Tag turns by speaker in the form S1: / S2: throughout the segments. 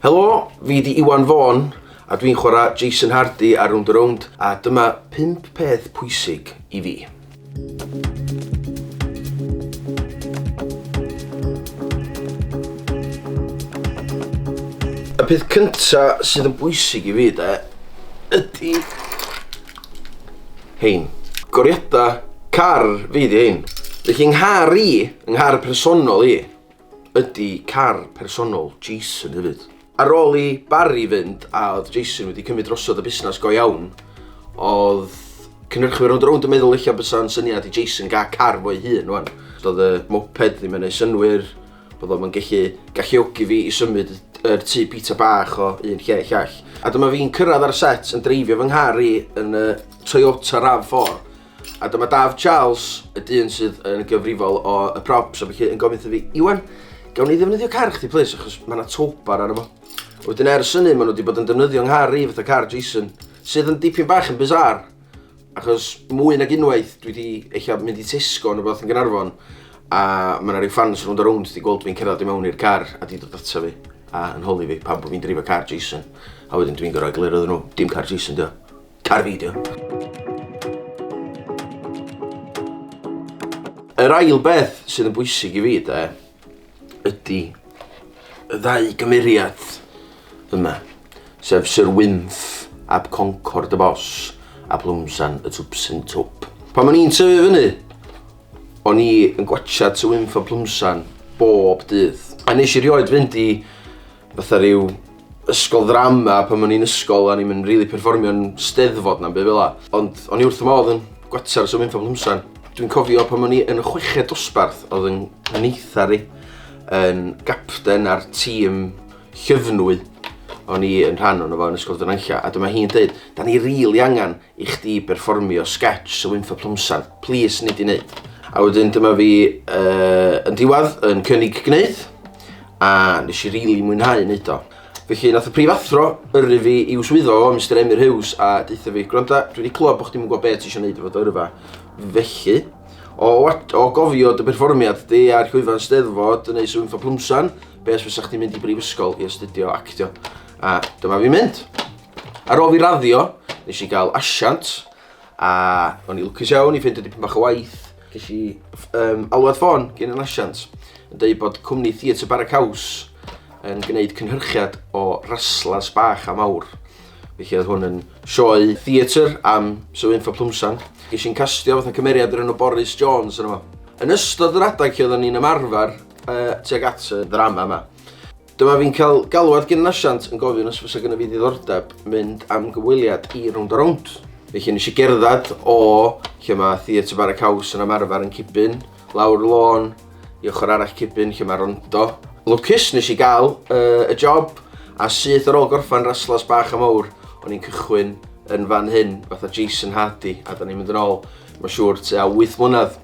S1: Helo, fi 'di Iwan Vaughan a dwi'n chwarae Jason Hardy ar Rownd a Rownd a dyma 5 peth pwysig i fi. Y peth cynta sydd yn bwysig i fi de ydi rhein. Goriada car fi 'di rhein. Felly 'nghar i, 'nghar personol i. ydy car personol Jason hefyd. Ar ôl i Barry fynd a oedd Jason wedi cymryd drosodd y busnes go iawn, oedd cynhyrchwyr rownd a rownd yn meddwl ella bysa'n syniad i Jason gael car fo'i hun rwan. Doedd y moped ddim yn ei synwyr, oedd o'm yn gallu galluogi fi i symud yr tŷ bita bach o un lle i llall. A dyma fi'n cyrraedd ar y set yn dreifio fy nghar i yn y Toyota RAV4. A dyma Daf Charles, y dyn sydd yn gyfrifol o y props, a felly yn gofyn wrtho fi, Iwan, gawn ni ddefnyddio car chdi plis, achos mae yna towbar arno fo. Wedyn ers hynny, maen nhw wedi bod yn defnyddio nghar i fatha car Jason, sydd yn dipyn bach yn bizar, achos mwy nag unwaith dwi wedi eich mynd i Tesco yn y both yn Gynarfon, a mae yna rhyw ffans rhwnd a rhwnd wedi gweld fi'n cerdded i mewn i'r car a wedi dod ato fi a yn holi fi pan bod fi'n dreifio car Jason, a wedyn dwi'n gorau egluro iddyn nhw, dim car Jason dio. Cael fideo. Yr ail beth sydd yn bwysig i fi, de, ydy y ddau gymeriad yma, sef Sir Wynth ab Concord y Bos a Plwmsan y Twpsyn Twp. Pan o'n i'n tyfu fyny, o'n i yn gwachad Sir Wynth a Plwmsan bob dydd. A nes i rioed fynd i fatha ryw ysgol ddrama pan o'n i'n ysgol o'n i'm yn rili perfformio'n Steddfod na'm by' fel 'a ond o'n i wrth fy modd yn gwatsiad y sŵn Cymhwsan. Dwi'n cofio pan o'n i yn y chweched dosbarth odd 'yn neithdar i yn gapten ar tîm llyfnwy o'n i yn rhan ono fo yn Ysgol Dyrnanlla a dyma hi'n deud 'dan ni rili angan i chdi berfformio sgetsh o Wynfor Plwmsarn, plis nei di wneud? A wedyn dyma fi uh, yn diwadd yn cynnig gwneud, a nes i rili really mwynhau wneud o. Felly nath y prifathro yrru fi i'w swyddo o, Mr Emyr Hughes, a deutha fi, gwranda, dwi wedi clywed bod chdi'n gwybod beth ti eisiau gwneud efo dy yrfa. Felly, o, o gofio dy berfformiad di ar llwyfan steddfod yn ei swn ffa plwmsan, beth fysa chdi'n mynd i brifysgol i astudio actio. A dyma fi mynd. Ar ôl fi raddio, nes i gael asiant, a o'n i lwcus iawn i ffeindio dipyn bach o waith. Ges i um, alwad ffôn gen yn asiant, yn dweud bod cwmni Theatr Bara Caws yn gwneud cynhyrchiad o raslas bach a mawr. Felly oedd hwn yn sioe theatr am Sir Wynffa Plwmsan. Ges i'n castio fatha cymeriad yr enw Boris Jones yn yma. Yn ystod yr adeg lle oedden ni'n ymarfer uh, tuag at y ddrama yma, Dyma fi'n cael galwad gyn nasiant yn gofyn os fysa gyda fi ddiddordeb mynd am gyfweliad i Rownd a Rownd. Felly nes i gerdded o lle mae Theatr Bara Caws yn ymarfer yn Cibyn, lawr lôn i ochr arall Cibyn lle mae Rondo. Lwcus nes i gael uh, y job a syth ar ôl gorffan raslas bach a mawr, o'n i'n cychwyn yn fan hyn fatha Jason Hardy a da ni'n mynd yn ôl, mae'n siŵr, tua 8 mlynedd.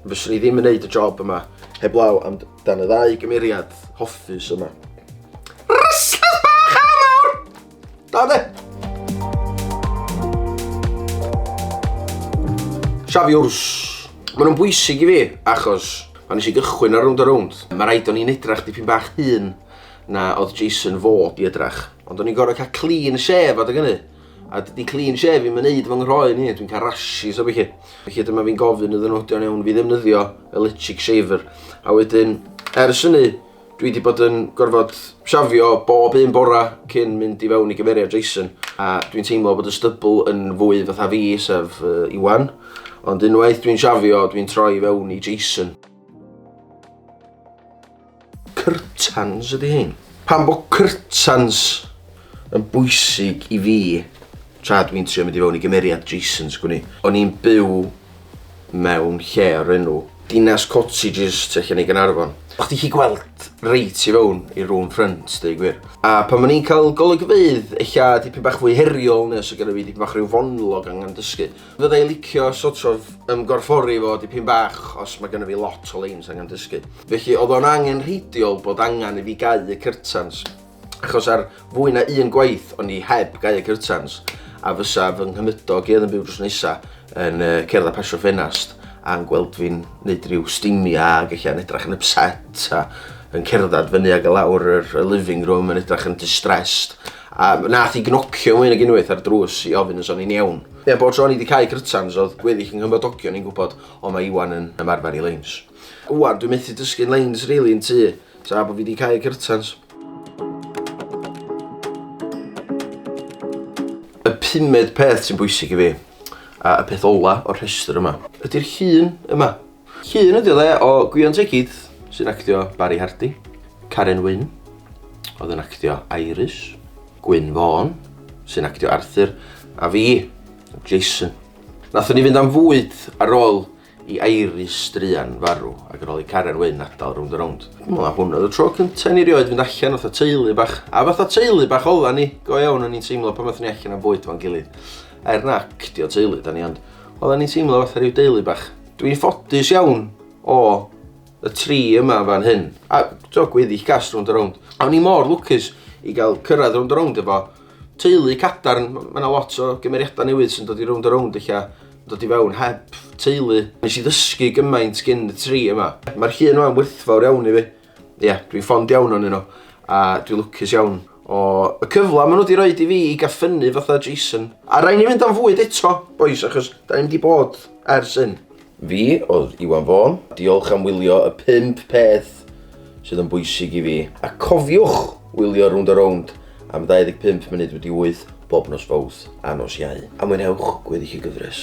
S1: Fyswn i ddim yn neud y job yma heblaw am dan y ddau gymeriad hoffus yma. Rysglas bach a mawr! Da de! Safiwrs. Mae nhw'n bwysig i fi, achos pan nes i gychwyn ar rownd a rownd, mae rhaid o'n i'n edrach dipyn bach hun na oedd Jason fod i edrach. Ond o'n i'n gorau cael clean shave adeg hynny, A dydy clean shave ddim yn neud fy nghroen i, dwi'n cael rashes a beth chi. Felly dyma fi'n gofyn iddyn nhw ydy'n iawn fi ddefnyddio electric shaver. A wedyn, ers hynny, dwi wedi bod yn gorfod siafio bob un bora cyn mynd i fewn i gyfeiriad Jason. A dwi'n teimlo bod y stybl yn fwy fatha fi, sef uh, Iwan. Ond unwaith dwi'n siafio, dwi'n troi fewn i Jason. Curtains ydy hyn. Pam bod curtains yn bwysig i fi tra dwi'n trio mynd i fewn i gymeriad Jason's gwn i. O'n i'n byw mewn lle o'r enw Dinas Cottages tu allan i Gaernarfon. O'ch chdi gallu gweld reit i fewn i room front deud gwir. A pan o'n i'n cael golygfeydd ella dipyn bach fwy heriol neu os oedd genna fi dipyn bach rhyw fonlog angen dysgu, Fydda i'n licio sort of ymgorffori fo dipyn bach os mae gennyf fi lot o leins angen dysgu. Felly oedd o'n angenrheidiol bod angen i fi gau y curtains achos ar fwy na un gwaith o'n i heb gau y curtains a fysa fy nghymydog i oedd yn byw drws nesa yn uh, cerdd a pasio ffenast a'n gweld fi'n neud rhyw stimia ac eich a'n edrach yn upset a yn cerdded fyny ag y lawr yr living room yn edrach yn distressed a nath i gnocio mwy nag unwaith ar drws i ofyn os o'n i'n iawn. Ie, bob tro ni 'di cau Grytans o'dd gweddill 'y nghymdogion i'n gwbod o ma' Iwan yn ymarfer i leins. Ŵan dwi methu dysgu'n leins rili yn tŷ tra bo fi 'di cau Grytans. Y pumed peth sy'n bwysig i fi, a y peth ola o'r rhestr yma, ydi'r llun yma. Llun ydy o dde o Gwion Tŷ Keith sy'n actio Barry Hardy, Karen Wynn oedd yn actio Iris, Gwyn Vaughan sy'n actio Arthur a fi, Jason. Nathon ni fynd am fwyd ar ôl i Iris druan farw ac ar ôl i Karen Wynn adal rownd a rownd. Wel hwn oedd y tro cynta i ni rioed fynd allan fatha teulu bach a fatha teulu bach odda ni, go iawn o'n i'n teimlo pan nathon ni allan am fwyd 'fo'n gilydd. Er na actio teulu 'da ni ond odda ni'n teimlo fatha rhyw deulu bach. Dwi'n ffodus iawn o y tri yma fan hyn. A do, gweddill gas rownd a rownd. A o'n i mor lwcus i gael cyrraedd rownd a rownd efo teulu cadarn. Mae yna lot o gymeriadau newydd sy'n dod i rownd a rownd eich dod i fewn heb teulu. Nes i ddysgu gymaint gyn y tri yma. Mae'r llun yma'n werthfawr iawn i fi. Ie, dwi'n ffond iawn o'n nhw, a dwi'n lwcus iawn. O, y cyfle maen nhw wedi rhoi i fi i gael ffynnu fatha Jason. A rhaid ni fynd am fwyd eto, boys, achos da ni'n di bod ers hyn. Fi oedd Iwan Fôn. Diolch am wylio y pump peth sydd yn bwysig i fi. A cofiwch wylio Rownd a Rownd am 25 munud wedi 8 bob nos Fowrth a nos Iau. A mwynhewch gweddill y gyfres.